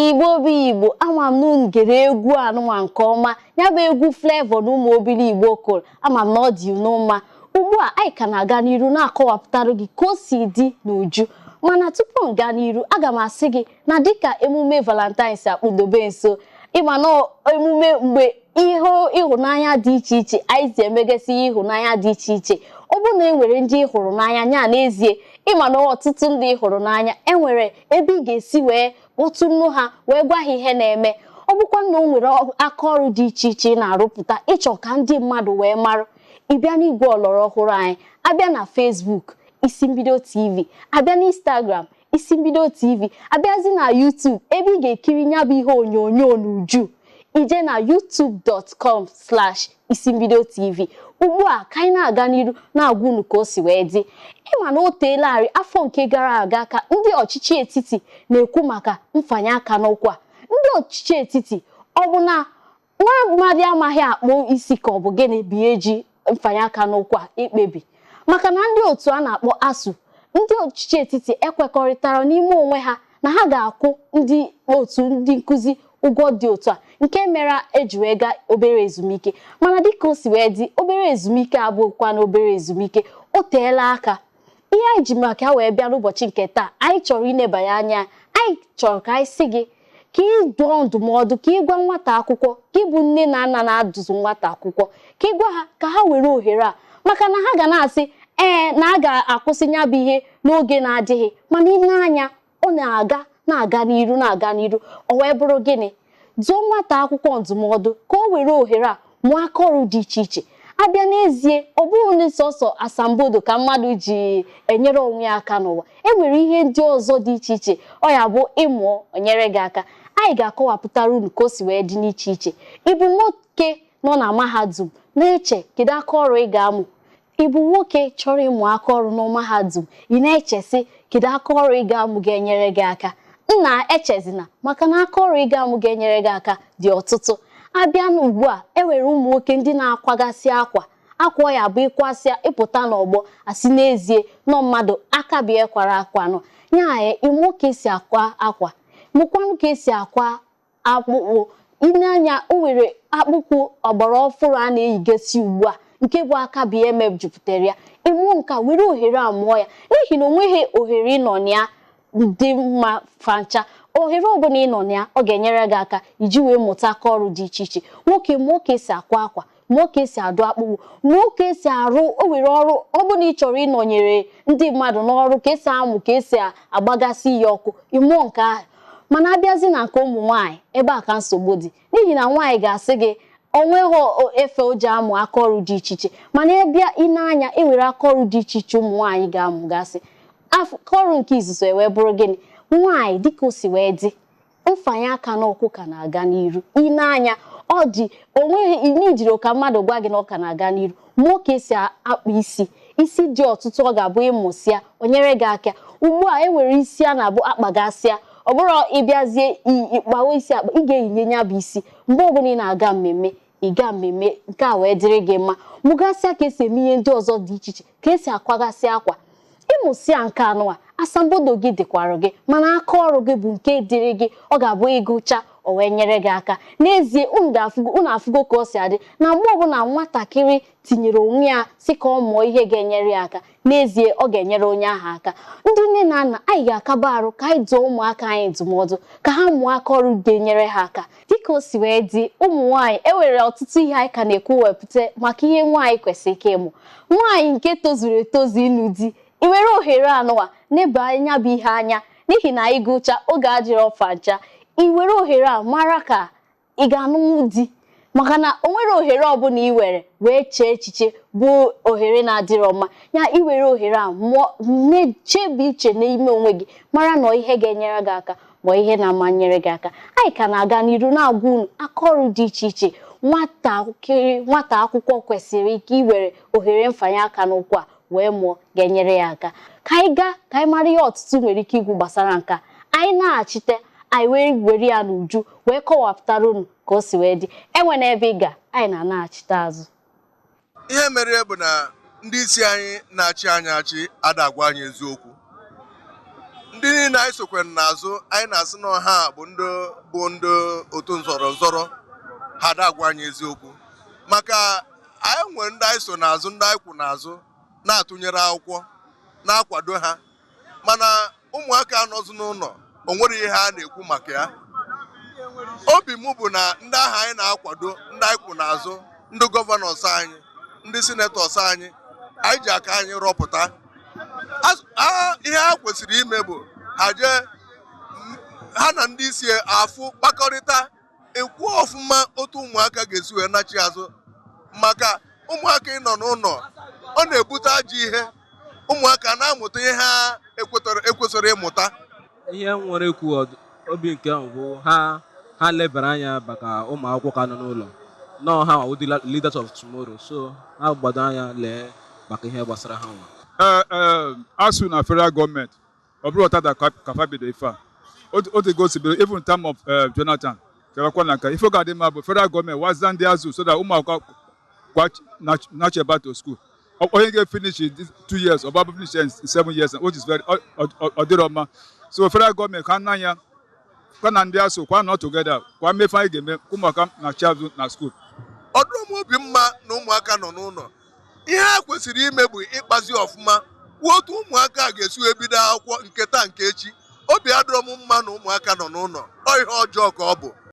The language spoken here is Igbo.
Igbo bụ Igbo ama m na unu gere egwu anụnwa nke ọma ya bụ egwu Flavour na Ụmụ Obiligbo kụrụ ama m na ọ dị unu mma ugbu a anyị ka na-aga n'iru na-akọwapụtara gị ka o si dị n'uju mana tupu m gaa n'iru aga m asị gị na dịka emume valentine si akpụdobe nso ị ma na emume mgbe ihe ịhụnanya dị iche iche anyị si emegasị ihe ịhụnanya dị iche iche ọ bụrụ na e nwere ndị ị hụrụ n'anya nya n'ezie ị ma na ọtụtụ ndị ị hụrụ n'anya e nwere ebe ị ga-esi wee kpọtụ nnu ha wee gwa ha ihe na-eme ọ bụkwa na o nwere aka ọrụ dị iche iche ị na-arụpụta ị chọọ ka ndị mmadụ wee marụ ị bịa n'igwe ọlọrọ ọhụrụ anyị a bịa na Facebook Isi Mbido TV a bịa na Instagram Isi Mbido TV a bịazi na YouTube ebe ị ga-ekiri nya bụ ihe onyonyo n'uju i jee na youtube.com slash Isi Mbido TV ugbu a ka anyị na-aga n'iru na-agwa unu ka o si wee dị ị ma na o teelarị afọ nke gara aga ka ndị ọchịchị etiti na-ekwu maka mfanye aka n'ụkwụ a ndị ọchịchị etiti ọ bụ na nwa mmadụ amaghị akpụ isi ka ọ bụ gịnị bụ ihe e ji mfanye aka n'ụkwụ a ekpebi maka na ndị otu a na-akpọ ASUU ndị ọchịchị etiti ekwekọrịtara n'ime onwe ha na ha ga-akwụ ndị otu ndị nkụzi ụgwọ dị otu a nke mere e ji wee gaa obere ezumike mana dịka o si wee dị obere ezumike abụkwa na obere ezumike o teela aka ihe anyị ji maka ya wee bịa n'ụbọchị nke taa anyị chọrọ inebanye anya anyị chọrọ ka anyị sị gị ka ị dụọ ndụmọdụ ka ị gwa nwata akwụkwọ ka ị bụ nne na nna na-adụzụ nwata akwụkwọ ka ị gwa ha ka ha were ohere a maka na ha ga na-asị ee na a ga-akwụsị ya bụ ihe n'oge na-adịghị mana i nee anya ọ na-aga na-aga n'iru na-aga n'iru o wee bụrụ gịnị dụọ nwata akwụkwọ ndụmọdụ ka o were ohere a mụọ aka ọrụ dị iche iche a bịa n'ezie ọ bụghị na sọsọ asambodo ka mmadụ ji enyere onwe ya aka n'ụwa e nwere ihe ndị ọzọ dị iche iche ọ ya-abụ ị mụọ o nyere gị aka anyị ga-akọwapụtara unu ka o si wee dị n'iche iche ị bụ nwoke nọ na mahadum na-eche kedu aka ọrụ ị ga-amụ Ị bụ nwoke chọrọ ịmụ aka ọrụ na mahadum, ị na-eche sị kedu aka ọrụ ị ga-amụ ga-enyere gị aka? Nna echezina maka na aka ọrụ ị ga-amụ ga-enyere gị aka dị ọtụtụ. A bịa na ugbu a, e nwere ụmụ nwoke ndị na-akwagasị akwa. Akwa ya-abụ ị kwasịa ị pụta n'ọgbọ a sị n'ezie na ọ mmadụ aka bụ ihe kwara akwa anụnwa. Ị mụọ ka e si akwa akwa, mụkwanụ ka e si akwa akpụkpụ i nee anya o nwere akpụkpụ ọgbara ọfụrụ a na-eyigasị ugbu a nke bụ aka bụ ihe mejupụtara ya ị mụọ nka were ohere a mụọ ya n'ihi na o nweghị ohere ị nọ na ya dị mma fancha ohere ọbụla ị nọ na ya ọ ga-enyere gị aka iji wee mụta aka ọrụ dị iche iche nwoke mụọ ka e si akwa akwa mụọ ka esi adụ akpụkpụ mụọ ka esi arụ o nwere ọrụ ọbụla ị chọrọ ịnọnyere ndị mmadụ n'ọrụ ka esi amụ ka esi agbagasị ihe ọkụ ịmụọ nke ahụ mana abịazi na nke ụmụ nwaanyị ebe a ka nsogbu dị n'ihi na nwaanyị ga-asị gị onweghị efe o ji amụ aka ọrụ dị iche iche mana ịbịa i nee anya enwere aka ọrụ dị iche iche ụmụ nwaanyị ga-amụgasị aka ọrụ nke izuzo wee bụrụ gịnị nwaanyị dịka o si wee dị mfanye aka n'ụkwụ ka na-aga n'iru i nee anya ọ dị onweghị n'ijiri ka mmadụ gwa gị na ọ ka na-aga n'iru mụọ ka esi akpa isi isi dị ọtụtụ ọ ga-abụ ịmụsịa o nyere gị aka ugbu a e nwere isi a na-abụ akpagasịa ọ bụrụ ịbịazie ịkpawa isi akpa ị ga-eyinye ya bụ isi mgbe ọbụla ị na-aga mmemme ị gaa mmemme nke a wee dịrị gị mma mụgasịa ka esi eme ihe ndị ọzọ dị iche iche ka esi akwagasị akwa ịmụsịa nke anụwa asambodo gị dịkwara gị mana aka ọrụ gị bụ nke dịrị gị ọ ga-abụ ịgụcha o wee nyere gị aka n'ezie unu afụgo ka o si adị na mgbe ọbụla nwatakịrị tinyere onwe ya sị ka ọ mụọ ihe ga-enyere ya aka n'ezie ọ ga-enyere onye ahụ aka ndị nne na nna anyị ga-akaba arụ ka anyị dụọ ụmụaka anyị ndụmọdụ ka ha mụọ aka ọrụ ga-enyere ha aka Dịka o si wee dị, ụmụ nwaanyị e nwere ọtụtụ ihe anyị ka na-ekwuwepụta maka ihe nwaanyị kwesịrị ike ịmụ. Nwaanyị nke tozuru etozu ịlụ di, i were ohere anụwa neba ya bụ ihe anya n'ihi na ị gụcha oge adịrọ fancha. I were ohere a mara ka ị ga-anụnwu di maka na o nwere ohere ọbụla i were wee chee echiche bụ ohere na-adịrọ mma ya i were ohere a na-echebe iche n'ime onwe gị mara na ihe ga-enyere gị aka ma ihe na-ama nyere gị aka anyị ka na-aga n'iru na-agwa unu aka ọrụ dị iche iche nwata akwụkwọ kwesịrị ike iwere ohere mfanye aka n'ụkwụ a wee mụọ ga-enyere ya aka ka anyị gaa ka anyị mara ihe ọtụtụ nwere ike ikwu gbasara nka anyị nachite anyị wee were ya n'uju wee kọwapụtara unu ka o si wee dị enwena ebe ị ga anyị na-anachite azụ ihe mere ya bụ na ndị isi anyị na-achị anyị achị ada agwa anyị eziokwu ndị niile anyị sokwe n'azụ anyị na-asị na ọ ha bụ ndị bụ ndị otu nzọrọ nzọrọ ha ada agwa anyị eziokwu maka anyị nwere ndị anyị so n'azụ ndị anyị kwụ n'azụ na-atụnyere akwụkwọ na-akwado ha mana ụmụaka anọzụ n'ụlọ o nwere ihe a na-ekwu maka ya obi m bụ na ndị ahụ anyị na-akwado ndị anyị kwụ n'azụ ndị gọvanọs anyị ndị sinetọs anyị anyị ji aka anyị rọpụta ihe ha kwesịrị ime bụ ha jee ha na ndị isi afụ kpakọrịta ekwu ọfụma otu ụmụaka ga-esi wee nachi azụ maka ụmụaka ịnọ n'ụlọ ọ na-ebute ajọ ihe ụmụaka na-amụta ihe ha ekwesịrọ ịmụta ihe m nwere ikwu obi nke m bụ ha lebara anya maka ụmụ akwụkwọ ka nọ n'ụlọ na ọ ha nwa wụ the leaders of tomorrow so ha gbado anya lee maka ihe gbasara ha nwa eh, eh, ASUU na federal gọọmenti ọ bụrọ taata ka fa bido ife a o tego osibere even time of eh, Jonathan kewakwa na nka ife ga-adị mma bụ federal gọọmenti waza ndị ASUU so that ụmụ akwụkwọ nachi back to school onye ga-efinish two years ọ bụ finish in seven years which is very ọ dịrọ mma so federal gọọmenti ka nna ya kwa na ndị ASUU kwa nọ together kwa mee ife anyị ga-eme ụmụaka nachi azụ na skuul ọ dịrọ m obi mma na ụmụaka nọ n'ụlọ ihe a kwesịrị ime bụ ịkpazi ọfụma kwuo otu ụmụaka a ga-esi wee bido akwụkwọ nke taa nke echi obi adịrọ m mma na ụmụaka nọ n'ụlọ ọ ihe ọjọọ ka ọ bụ